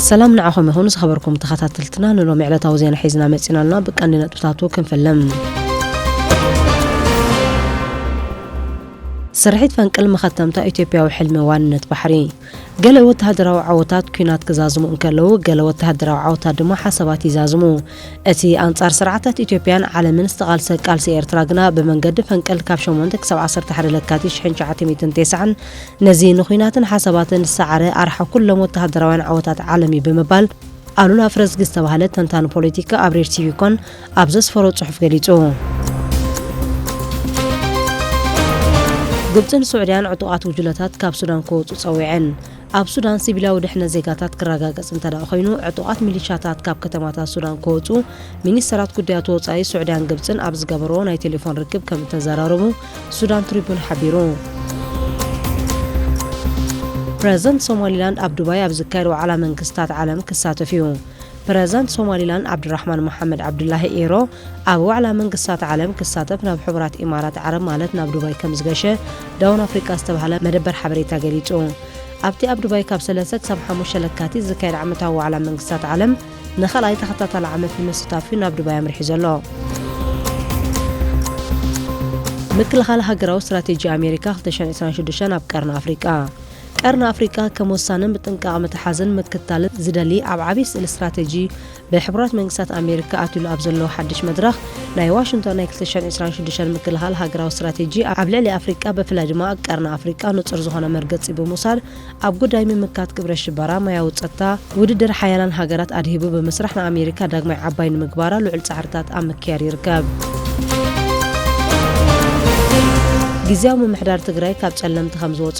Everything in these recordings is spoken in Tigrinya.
ሰላም ንዓኹም ይኹን ዝኸበርኩም ተኸታተልትና ንሎሚ ዕለታዊ ዜና ሒዝና መጺና ኣልና ብቀንዲ ነጥብታቱ ክንፍልም ስርሒት ፈንቅል መኸተምታ ኢትዮጵያዊ ሕልሚ ዋንነት ባሕሪ ገለ ወተሃደራዊ ዓወታት ኩናት ክዛዝሙ እንከለዉ ገለ ወተሃደራዊ ዓወታት ድማ ሓሳባት ይዛዝሙ እቲ ኣንጻር ስርዓታት ኢትዮጵያን ዓለምን ዝተቓልሰ ቃልሲ ኤርትራ ግና ብመንገዲ ፈንቅል ካብ ሸሞንተ ክሳብ ዓሰርተ ሓደ ለካቲት ሽሕን ትሽዓተ ሚእትን ቴስዓን ነዚ ንኩናትን ሓሳባትን ዝሰዓረ ኣርሓ ኩሎም ወተሃደራውያን ዓወታት ዓለም እዩ ብምባል ኣሉላ ፍረዝጊ ዝተባህለ ተንታኒ ፖለቲካ ኣብ ሬድ ቲቪ ኮን ኣብ ዘስፈሮ ጽሑፍ ገሊጹ። ግብጽን ሱዕድያን ዕጡቓት ጉጅለታት ካብ ሱዳን ክወጹ ጸዊዐን። ኣብ ሱዳን ሲቪላዊ ድሕነት ዜጋታት ክረጋገጽ እንተድኣ ኮይኑ፣ ዕጡቓት ሚሊሻታት ካብ ከተማታት ሱዳን ክወጽኡ ሚኒስተራት ጉዳያት ወጻኢ ሱዕድያን ግብጽን ኣብ ዝገበርዎ ናይ ቴሌፎን ርክብ ከም እተዘራረቡ ሱዳን ትሪቡን ሓቢሩ። ፕረዚደንት ሶማሊላንድ ኣብ ዱባይ ኣብ ዝካየድ ዋዕላ መንግስታት ዓለም ክሳተፍ እዩ። ፕረዚዳንት ሶማሊላንድ ዓብዱራሕማን መሓመድ ዓብዱላሂ ኢሮ ኣብ ዋዕላ መንግስታት ዓለም ክሳተፍ ናብ ሕቡራት ኢማራት ዓረብ ማለት ናብ ዱባይ ከምዝገሸ ዳውን ኣፍሪቃ ዝተባህለ መደበር ሓበሬታ ገሊጹ። ኣብቲ ኣብ ዱባይ ካብ ሰለስተ ክሳብ ሓሙሽተ ለካቲት ዝካየድ ዓመታዊ ዋዕላ መንግስታት ዓለም ንኻልኣይ ተኸታታሊ ዓመት ንምስታፍ'ዩ ናብ ዱባይ ኣምሪሑ ዘሎ። ምክልኻል ሃገራዊ ስትራቴጂ ኣሜሪካ ክልተ ሽሕን ዕስራን ሽዱሽተን ኣብ ቀርኒ ኣፍሪቃ። ቀርኒ ኣፍሪቃ ከም ወሳንን ብጥንቃቐ ምትሓዝን ምክታልን ዝደሊ ኣብ ዓብዪ ስእሊ ስትራቴጂ ብሕቡራት መንግስታት ኣሜሪካ ኣትዩሉ ኣብ ዘሎ ሓድሽ መድረኽ ናይ ዋሽንግቶን ናይ ክልተ ሽሕን ዕስራን ሽዱሽተን ምክልኻል ሃገራዊ ስትራቴጂ ኣብ ልዕሊ ኣፍሪቃ ብፍላይ ድማ ኣብ ቀርኒ ኣፍሪቃ ንጹር ዝኾነ መርገጺ ብምውሳድ ኣብ ጉዳይ ምምካት ግብረ ሽበራ ሞያዊ ጸጥታ ውድድር ሓያላን ሃገራት ኣድሂቡ ብምስራሕ ንኣሜሪካ ዳግማይ ዓባይ ንምግባራ ልዑል ጻዕርታት ኣብ ምክያድ ይርከብ። ጊዚያዊ ምምሕዳር ትግራይ ካብ ጸለምቲ ከምዝወጹ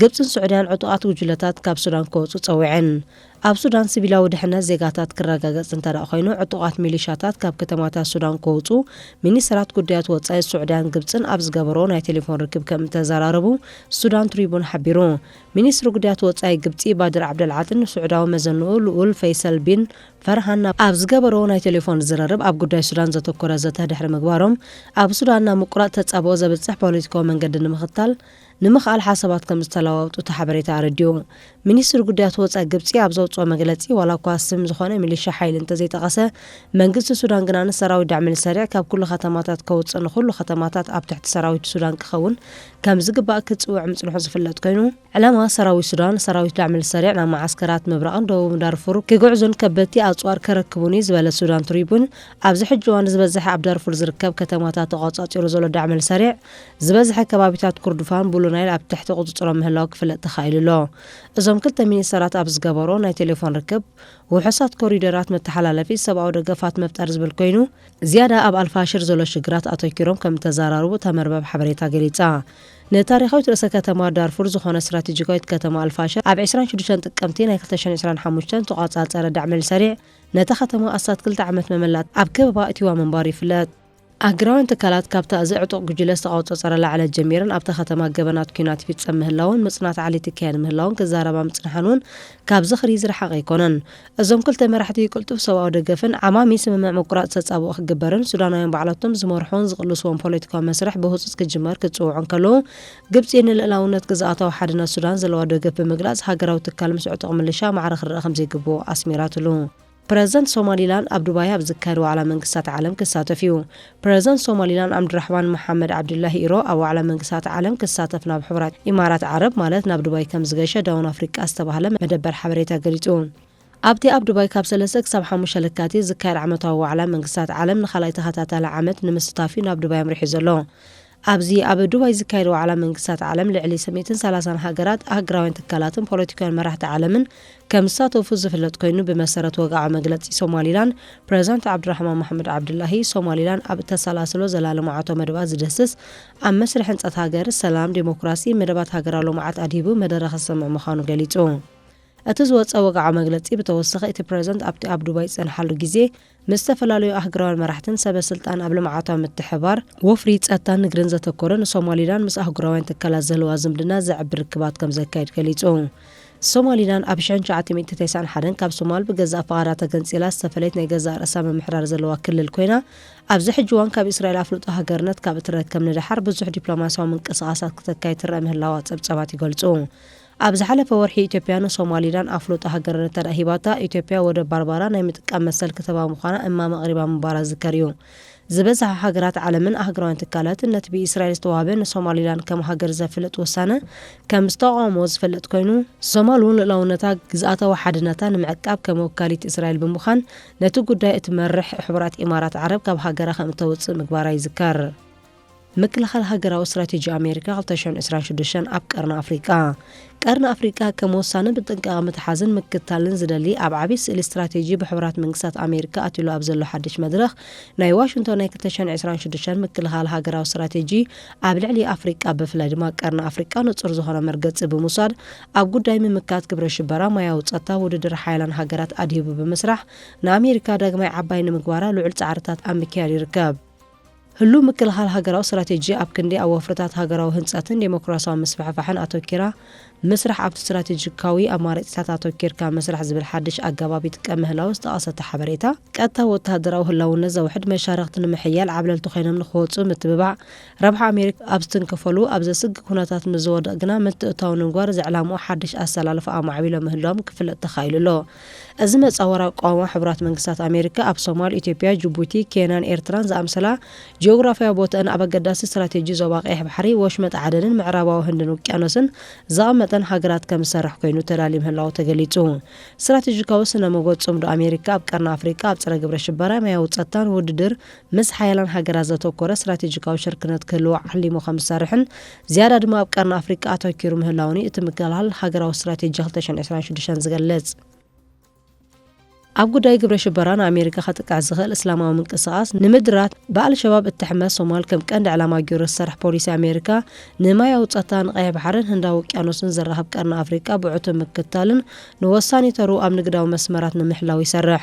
ግብጽን ሱዕድያን ዕጡቓት ጉጅለታት ካብ ሱዳን ክወጹ ጸዊዐን። ኣብ ሱዳን ሲቪላዊ ድሕነት ዜጋታት ክረጋገጽ እንተድኣ ኮይኑ ዕጡቓት ሚሊሻታት ካብ ከተማታት ሱዳን ክወጹ ሚኒስተራት ጉዳያት ወጻኢ ሱዕድያን ግብጽን ኣብ ዝገበርኦ ናይ ቴሌፎን ርክብ ከምእተዘራረቡ ሱዳን ትሪቡን ሓቢሩ። ሚኒስትሪ ጉዳያት ወጻኢ ግብጺ ባድር ዓብደልዓጥን ንሱዕዳዊ መዘንኡ ልኡል ፈይሰል ቢን ፈርሃን ኣብ ዝገበርኦ ናይ ቴሌፎን ዝርርብ ኣብ ጉዳይ ሱዳን ዘተኮረ ዘተ ድሕሪ ምግባሮም ኣብ ሱዳን ናብ ምቁራጽ ተጻብኦ ዘብጽሕ ፖለቲካዊ መንገዲ ንምኽታል ንምክኣል ሓሳባት ከምዝተለዋወጡ እቲ ሓበሬታ ኣረዲኡ። ሚኒስትሪ ጉዳያት ወፃኢ ግብፂ ኣብ ዘውፅኦ መግለፂ ዋላኳ ስም ዝኾነ ሚሊሻ ሓይሊ እንተዘይጠቐሰ መንግስቲ ሱዳን ግና ንሰራዊት ዳዕመልሰሪዕ ካብ ኩሉ ከተማታት ከውፅእ ንኹሉ ከተማታት ኣብ ትሕቲ ሰራዊት ሱዳን ክኸውን ከምዝግባእ ክፅውዕ ምፅንሑ ዝፍለጥ ኮይኑ ዕላማ ሰራዊት ሱዳን ሰራዊት ዳዕመልሰሪዕ ናብ መዓስከራት ምብራቕን ደቡብን ዳርፉር ክግዕዙን ከበድቲ ኣፅዋር ከረክቡን እዩ ዝበለ ሱዳን ትሪቡን ኣብዚ ሕጂ እዋን ዝበዘሐ ኣብ ዳርፉር ዝርከብ ከተማታት ተቖፃፂሩ ዘሎ ዳዕመልሰሪዕ ዝበዝሐ ከባቢታት ኩርዱፋን ቡሉ ናይል ኣብ ትሕቲ ቁጽጽሮም ምህላው ክፍለጥ ተኻኢሉ ኣሎ። እዞም ክልተ ሚኒስተራት ኣብ ዝገበሮ ናይ ቴሌፎን ርክብ፣ ውሑሳት ኮሪደራት መተሓላለፊ ሰብኣዊ ደገፋት ምፍጣር ዝብል ኮይኑ፣ ዝያዳ ኣብ ኣልፋሽር ዘሎ ሽግራት ኣተኪሮም ከም እተዘራረቡ እታ መርበብ ሓበሬታ ገሊጻ። ንታሪኻዊት ርእሰ ከተማ ዳርፉር ዝኾነት ስትራቴጂካዊት ከተማ ኣልፋሽር ኣብ ዕስራን ሽዱሽተን ጥቅምቲ ናይ ክልተ ሽሕን ዕስራን ሓሙሽተን ዝተቖጻጸረ ዳዕመል ሰሪዕ ነታ ከተማ ኣስታት ክልተ ዓመት መመላእታ ኣብ ከበባ ኣእትይዋ ምንባሩ ይፍለጥ። ኣህግራውያን ትካላት ካብታ እዚ ዕጡቕ ጉጅለ ዝተቐውጸጸረላ ዕለት ጀሚረን ኣብታ ከተማ ገበናት ኲናት ይፍጸም ምህላውን ምጽናት ዓሌት ይካየድ ምህላውን ክዛረባ ምጽንሓን እውን ካብ ዝኽሪ ዝረሓቐ ኣይኮነን። እዞም ክልተ መራሕቲ ቅልጡፍ ሰብኣዊ ደገፍን ዓማሚ ስምምዕ ምቁራጽ ተጻብኦ ክግበርን ሱዳናውያን ባዕላቶም ዝመርሑዎን ዝቕልስዎን ፖለቲካዊ መስርሕ ብህጹጽ ክጅመር ክጽውዑ እንከለዉ ግብጺ ንልእላውነት ግዝኣታዊ ሓድነት ሱዳን ዘለዋ ደገፍ ብምግላጽ ሃገራዊ ትካል ምስ ዕጡቕ ምልሻ ማዕረ ክረኣ ከምዘይግብኦ ኣስሚራትሉ። ፕረዚደንት ሶማሊላንድ ኣብ ዱባይ ኣብ ዝካየድ ዋዕላ መንግስታት ዓለም ክሳተፍ እዩ። ፕረዚደንት ሶማሊላንድ ዓምድራሕማን መሓመድ ዓብዱላሂ ኢሮ ኣብ ዋዕላ መንግስታት ዓለም ክሳተፍ ናብ ሕቡራት ኢማራት ዓረብ ማለት ናብ ዱባይ ከምዝገሸ ዳውን ኣፍሪቃ ዝተባህለ መደበር ሓበሬታ ገሊጹ። ኣብቲ ኣብ ዱባይ ካብ ሰለስተ ክሳብ ሓሙሽተ ለካቲት ዝካየድ ዓመታዊ ዋዕላ መንግስታት ዓለም ንካልኣይ ተኸታታሊ ዓመት ንምስታፍ'ዩ ናብ ዱባይ ኣምሪሑ ዘሎ። ኣብዚ ኣብ ዱባይ ዝካየድ ዋዕላ መንግስታት ዓለም ልዕሊ ሰሚእትን ሰላሳን ሃገራት፣ ኣህግራውያን ትካላትን ፖለቲካውያን መራሕቲ ዓለምን ከምዝሳተፉ ዝፍለጥ ኮይኑ ብመሰረት ወግዓዊ መግለጺ ሶማሊላንድ ፕረዚዳንት ዓብዱራሕማን መሓመድ ዓብዱላሂ ሶማሊላንድ ኣብ እተሰላስሎ ዘላ ልምዓታዊ መደባት ዝድህስስ ኣብ መስርሕ ህንጸት ሃገር ሰላም፣ ዴሞክራሲ፣ መደባት ሃገራዊ ልምዓት ኣድሂቡ መደረ ከስምዕ ምዃኑ ገሊጹ። እቲ ዝወጸ ወግዓዊ መግለጺ ብተወሳኺ እቲ ፕረዚዳንት ኣብቲ ኣብ ዱባይ ዝጸንሓሉ ግዜ ምስ ዝተፈላለዩ ኣህግራውያን መራሕትን ሰበ ስልጣን ኣብ ልምዓታዊ ምትሕብባር፣ ወፍሪ፣ ጸጥታን ንግድን ዘተኮረ ንሶማሊላንድ ምስ ኣህጉራውያን ትካላት ዝህልዋ ዝምድና ዘዕቢ ርክባት ከምዘካይድ ገሊጹ። ሶማሊላንድ ኣብ ሽሕን ትሽዓተ ሚእቲ ተስዓን ሓደን ካብ ሶማል ብገዛእ ፍቓዳ ተገንጺላ ዝተፈለየት ናይ ገዛእ ርእሳ ምምሕዳር ዘለዋ ክልል ኮይና ኣብዚ ሕጂ እዋን ካብ እስራኤል ኣፍልጦ ሃገርነት ካብ እትረከብ ንደሓር ብዙሕ ዲፕሎማስያዊ ምንቅስቓሳት ክተካይድ ትረኣ ምህላዋ ጸብጻባት ይገልጹ። ኣብ ዝሓለፈ ወርሒ ኢትዮጵያ ንሶማሊላን ኣፍልጦ ሃገርነት እንተድኣ ሂባታ፣ ኢትዮጵያ ወደብ ባርባራ ናይ ምጥቃም መሰል ክትህባ ምዃና እማመ ኣቕሪባ ምንባራ ዝዝከር እዩ። ዝበዝሓ ሃገራት ዓለምን ኣህጉራውያን ትካላትን ነቲ ብኢስራኤል ዝተዋህበ ንሶማሊላን ከም ሃገር ዘፍልጥ ውሳነ ከም ዝተቓወምዎ ዝፍለጥ ኮይኑ፣ ሶማል እውን ልኡላውነታ፣ ግዝኣታዊ ሓድነታ ንምዕቃብ ከም ወካሊት እስራኤል ብምዃን ነቲ ጉዳይ እትመርሕ ሕቡራት ኢማራት ዓረብ ካብ ሃገራ ከም እተውጽእ ምግባራ ይዝከር። ምክልኻል ሃገራዊ ስትራቴጂ ኣሜሪካ ክልተ ሽሕን ዕስራን ሽዱሽተን ኣብ ቀርኒ ኣፍሪቃ። ቀርኒ ኣፍሪቃ ከም ወሳንን ብጥንቃቐ ምትሓዝን ምክትታልን ዝደሊ ኣብ ዓብይ ስእሊ ስትራቴጂ ብሕቡራት መንግስታት ኣሜሪካ ኣትዩሉ ኣብ ዘሎ ሓድሽ መድረኽ ናይ ዋሽንቶን ናይ ክልተ ሽሕን ዕስራን ሽዱሽተን ምክልኻል ሃገራዊ ስትራቴጂ ኣብ ልዕሊ ኣፍሪቃ ብፍላይ ድማ ቀርኒ ኣፍሪቃ ንጹር ዝኾነ መርገጺ ብምውሳድ ኣብ ጉዳይ ምምካት ግብረ ሽበራ፣ ማያዊ ጸጥታ፣ ውድድር ሓያላን ሃገራት ኣድሂቡ ብምስራሕ ንኣሜሪካ ዳግማይ ዓባይ ንምግባራ ልዑል ጻዕርታት ኣብ ምክያድ ይርከብ። ህሉው ምክልኻል ሃገራዊ ስትራቴጂ ኣብ ክንዲ ኣብ ወፍርታት ሃገራዊ ህንጸትን ደሞክራስያዊ ምስፍሕፋሕን ኣተኲራ ምስራሕ ኣብቲ ስትራቴጂካዊ ኣማራጺታት ኣተኲርካ ምስራሕ ዝብል ሓድሽ ኣገባብ ይጥቀም ምህላዉ ዝጠቐሰ እቲ ሓበሬታ፣ ቀጥታዊ ወተሃደራዊ ህላውነት ዘውሕድ መሻርኽቲ ንምሕያል ዓብለልቲ ኮይኖም ንኽወጽኡ ምትብባዕ፣ ረብሓ ኣሜሪካ ኣብ ዝትንክፈሉ ኣብ ዘስግእ ኩነታት ምስ ዝወድቕ ግና ምትእትታው ንምግባር ዝዕላምኡ ሓድሽ ኣሰላልፋ ኣማዕቢሎም ምህላዎም ክፍለጥ ተኻኢሉ ኣሎ። እዚ መጻወር ኣቋውማ ሕቡራት መንግስታት ኣሜሪካ ኣብ ሶማል፣ ኢትዮጵያ፣ ጅቡቲ፣ ኬንያን ኤርትራን ዝኣምሰላ ጂኦግራፍያዊ ቦትኣን ኣብ ኣገዳሲ ስትራቴጂ ዞባ ቀይሕ ባሕሪ፣ ወሽመጥ ዓደንን ምዕራባዊ ህንድን ውቅያኖስን ዘቐመጠን ሃገራት ከም ዝሰርሕ ኮይኑ ተላልዩ ምህላዉ ተገሊጹ። ስትራቴጂካዊ ስነ-ሞጎት ጽምዶ ኣሜሪካ ኣብ ቀርኒ ኣፍሪቃ ኣብ ጸረ ግብረ ሽበራ፣ ማያዊ ጸጥታን ውድድር ምስ ሓያላን ሃገራት ዘተኮረ ስትራቴጂካዊ ሽርክነት ክህልዎ ዓሊሙ ከም ዝሰርሕን ዝያዳ ድማ ኣብ ቀርኒ ኣፍሪቃ ኣተኪሩ ምህላዉን እዩ እቲ ምክልኻል ሃገራዊ ስትራቴጂ ክልተ ሽሕን ዕስራን ሽዱሽተን ዝገልጽ። ኣብ ጉዳይ ግብረ ሽበራ ንኣሜሪካ ከጥቅዕ ዝኽእል እስላማዊ ምንቅስቓስ ንምድራት፣ ብኣልሸባብ እትሕመስ ሶማል ከም ቀንዲ ዕላማ ገይሩ ዝሰርሕ ፖሊሲ ኣሜሪካ፣ ንማያዊ ጸታ፣ ንቀይሕ ባሕርን ህንዳዊ ውቅያኖስን ዘራኽብ ቀርኒ ኣፍሪቃ ብዕቱብ ምክትታልን ንወሳኒ ተርኡ ኣብ ንግዳዊ መስመራት ንምሕላው ይሰርሕ።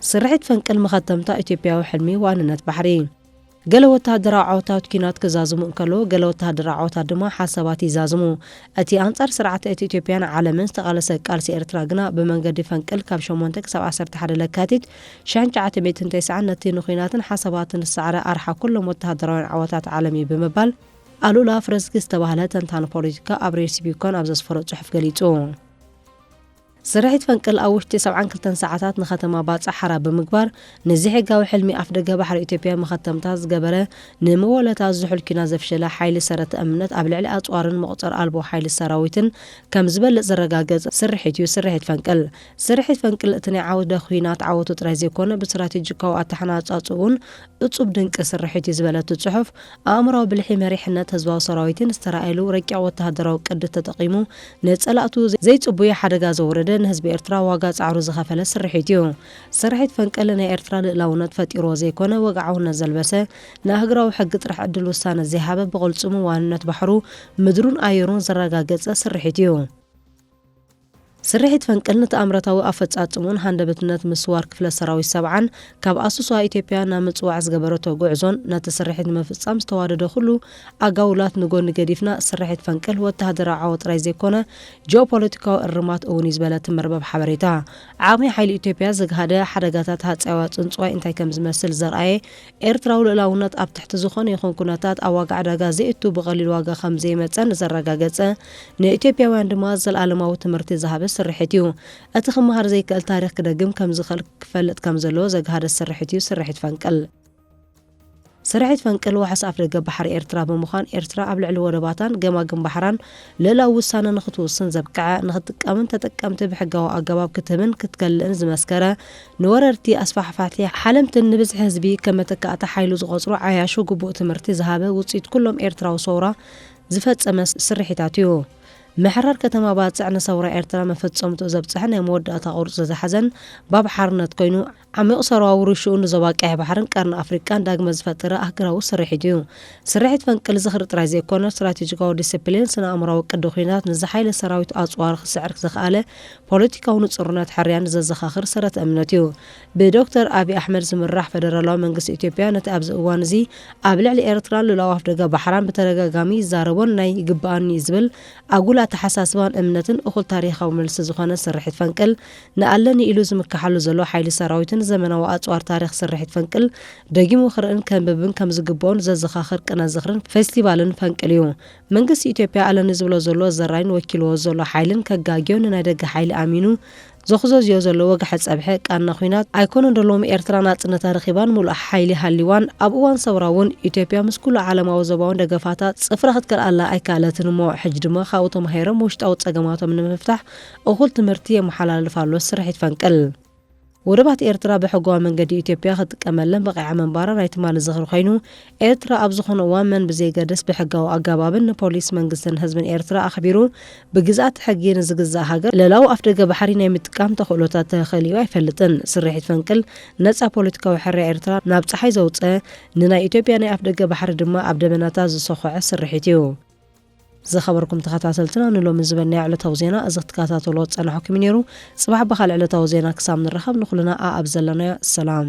ስርሒት ፈንቅል መኸተምታ ኢትዮጵያዊ ሕልሚ ዋንነት ባሕሪ። ገለ ወተሃደራዊ ዓወታት ኲናት ክዛዝሙ እንከለዉ፣ ገለ ወተሃደራዊ ዓወታት ድማ ሓሳባት ይዛዝሙ። እቲ ኣንጻር ስርዓተ እቲ ኢትዮጵያን ዓለምን ዝተቓለሰ ቃልሲ ኤርትራ ግና ብመንገዲ ፈንቅል ካብ ሸሞንተ ክሳብ ዓሰርተ ሓደ ለካቲት ሽሕን ትሽዓተ ሚእትን ተስዓን ነቲ ንኲናትን ሓሳባትን ዝሰዓረ ኣርሓ ኩሎም ወተሃደራውያን ዓወታት ዓለም እዩ ብምባል ኣሉላ ፍረዝጊ ዝተባህለ ተንታኒ ፖለቲካ ኣብ ሬድሲ ቢኮን ኣብ ዘስፈሮ ጽሑፍ ገሊጹ። ስርሒት ፈንቅል ኣብ ውሽጢ ሰብዓን ክልተን ሰዓታት ንከተማ ባጽዕ ሓራ ብምግባር ንዘይሕጋዊ ሕልሚ ኣፍደገ ባሕሪ ኢትዮጵያ መኸተምታ ዝገበረ ንመወለታ ዝሑል ኲናት ዘፍሸለ ሓይሊ ሰረተ እምነት ኣብ ልዕሊ ኣጽዋርን መቑጸር ኣልቦ ሓይሊ ሰራዊትን ከም ዝበልጽ ዘረጋገጽ ስርሒት እዩ ስርሒት ፈንቅል። ስርሒት ፈንቅል እቲ ናይ ዓውደ ኲናት ዓወቱ ጥራይ ዘይኮነ ብስትራቴጂካዊ ኣተሓናጻጽኡን እፁብ ድንቂ ስርሒት እዩ ዝበለቱ ፅሑፍ ኣእምራዊ ብልሒ መሪሕነት ህዝባዊ ሰራዊትን ዝተራእየሉ ረቂቕ ወተሃደራዊ ቅዲ ተጠቒሙ ንፀላእቱ ዘይፅቡየ ሓደጋ ዘውረደ ንህዝቢ ኤርትራ ዋጋ ፃዕሩ ዝኸፈለ ስርሒት እዩ። ስርሒት ፈንቅል ናይ ኤርትራ ልእላውነት ፈጢርዎ ዘይኮነ ወግዓውነት ዘልበሰ ንኣህግራዊ ሕጊ ጥራሕ ዕድል ውሳነ ዘይሃበ ብቕልፅሙ ዋንነት ባሕሩ፣ ምድሩን ኣየሩን ዘረጋገፀ ስርሒት እዩ። ስርሒት ፈንቅል ንተኣምረታዊ ኣፈፃፅምኡን ሃንደበትነት ምስዋር ክፍለ ሰራዊት ሰብዓን ካብ ኣሶሳ ኢትዮጵያ ናብ ምፅዋዕ ዝገበረቶ ጉዕዞን ነቲ ስርሒት ንምፍፃም ዝተዋደደ ኩሉ ኣጋውላት ንጎኒ ገዲፍና ስርሒት ፈንቅል ወታሃደራዊ ዓወት ጥራይ ዘይኮነ ጂኦፖለቲካዊ እርማት እውን እዩ ዝበለ እቲ መርበብ ሓበሬታ ዓቕሚ ሓይሊ ኢትዮጵያ ዘግሃደ ሓደጋታት ሃፀያዊ ኣፅንፅዋይ እንታይ ከምዝመስል ዘርኣየ ኤርትራዊ ልኡላውነት ኣብ ትሕቲ ዝኾነ ይኹን ኩነታት ኣብ ዋጋ ዕዳጋ ዘየእቱ ብቐሊል ዋጋ ከም ዘይመጸ ንዘረጋገጸ ንኢትዮጵያውያን ድማ ዘልኣለማዊ ትምህርቲ ዝሃበ ስርሒት እዩ። እቲ ክመሃር ዘይክእል ታሪኽ ክደግም ከም ዝኽእል ክፈልጥ ከም ዘለዎ ዘግሃደ ስርሒት እዩ ስርሒት ፈንቅል። ስርሒት ፈንቅል ዋሕስ ኣፍደገ ባሕሪ ኤርትራ ብምዃን ኤርትራ ኣብ ልዕሊ ወደባታን ገማግም ባሕራን ልእላዊ ውሳነ ንኽትውስን ዘብቀዐ፣ ንኽትጥቀምን ተጠቀምቲ ብሕጋዊ ኣገባብ ክትህብን ክትከልእን ዝመስከረ ንወረርቲ ኣስፋሕፋሕቲ ሓለምትን ንብዝሒ ህዝቢ ከም መተካእታ ሓይሉ ዝቆጽሩ ዓያሹ ግቡእ ትምህርቲ ዝሃበ ውጽኢት ኩሎም ኤርትራዊ ሰውራ ዝፈጸመ ስርሒታት እዩ። ምሕራር ከተማ ባጽዕ ንሰውራ ኤርትራ መፈጸምትኡ ዘብጽሐ ናይ መወዳእታ ቁርጺ ዝሓዘን ባብ ሓርነት ኮይኑ ዓሚቝ ሰውራዊ ውርሽኡ ንዞባ ቀይሕ ባሕርን ቀርኒ ኣፍሪቃን ዳግመ ዝፈጠረ ኣህግራዊ ስርሒት እዩ። ስርሒት ፈንቅል ዝኽሪ ጥራይ ዘይኮነ ስትራቴጂካዊ ዲሲፕሊን ስነ-ኣእምሮኣዊ ቅዲ ኩናት ንዝሓይለ ሰራዊት ኣጽዋር ክስዕር ዘኽኣለ ፖለቲካዊ ንጹርነት ሕርያን ዘዘኻኽር ሰረት እምነት እዩ። ብዶክተር ኣቢ ኣሕመድ ዝምራሕ ፈደራላዊ መንግስቲ ኢትዮጵያ ነቲ ኣብዚ እዋን እዚ ኣብ ልዕሊ ኤርትራን ሉላዊ ኣፍደገ ባሕራን ብተደጋጋሚ ይዛረቦን ናይ ይግበኣኒ ዝብል ኣጉል ኣተሓሳስባን እምነትን እኹል ታሪኻዊ መልሲ ዝኾነ ስርሒት ፈንቅል ንኣለኒ ኢሉ ዝምከሓሉ ዘሎ ሓይሊ ሰራዊትን ዘመናዊ ኣጽዋር ታሪኽ ስርሒት ፈንቅል ደጊሙ ክርእን ከንብብን ከምዝግበኦን ዘዘኻኽር ቅነ ዝኽርን ፌስቲቫልን ፈንቅል እዩ። መንግስቲ ኢትዮጵያ ኣለኒ ዝብሎ ዘሎ ዘራይን ወኪልዎ ዘሎ ሓይልን ከጋግዮ ንናይ ደገ ሓይሊ ኣሚኑ ዘኹዘዝዮ ዘሎ ወግሐ ጸብሐ ቃና ኹናት ኣይኮነን ዶ ሎሚ ኤርትራ ናጽነታ ረኺባን ምሉእ ሓይሊ ሃልይዋን ኣብ እዋን ሰውራ ውን ኢትዮጵያ ምስ ኩሉ ዓለማዊ ዞባውን ደገፋታ ጽፍራ ክትከልኣላ ኣይከኣለትን እሞ ሕጂ ድማ ካብኡ ተማሂሮም ውሽጣዊ ጸገማቶም ንምፍታሕ እኹል ትምህርቲ የመሓላልፍ ኣሎ ስርሒት ፈንቅል ወደባት ኤርትራ ብሕጋዊ መንገዲ ኢትዮጵያ ክትጥቀመለን በቒዓ ምንባራ ናይ ትማሊ ዝኽሪ ኮይኑ፣ ኤርትራ ኣብ ዝኾነ እዋን መን ብዘይገድስ ብሕጋዊ ኣገባብን ንፖሊስ መንግስትን ህዝብን ኤርትራ ኣኽቢሩ ብግዝኣተ ሕጊ ንዝግዛእ ሃገር ልእላዊ ኣፍደገ ባሕሪ ናይ ምጥቃም ተኽእሎታት ተኸሊኡ ኣይፈልጥን። ስርሒት ፈንቅል ነጻ ፖለቲካዊ ሕርያ ኤርትራ ናብ ጸሓይ ዘውጸ፣ ንናይ ኢትዮጵያ ናይ ኣፍደገ ባሕሪ ድማ ኣብ ደበናታት ዝሰኾዐ ስርሒት እዩ። ዝኸበርኩም ተኸታተልትና ንሎሚ ዝበልናዮ ዕለታዊ ዜና እዚ ክትከታተልዎ ዝጸናሕኩም እዩ ነይሩ። ጽባሕ ብኻልእ ዕለታዊ ዜና ክሳብ ንራኸብ ንኹልና ኣኣብ ዘለናዮ ሰላም።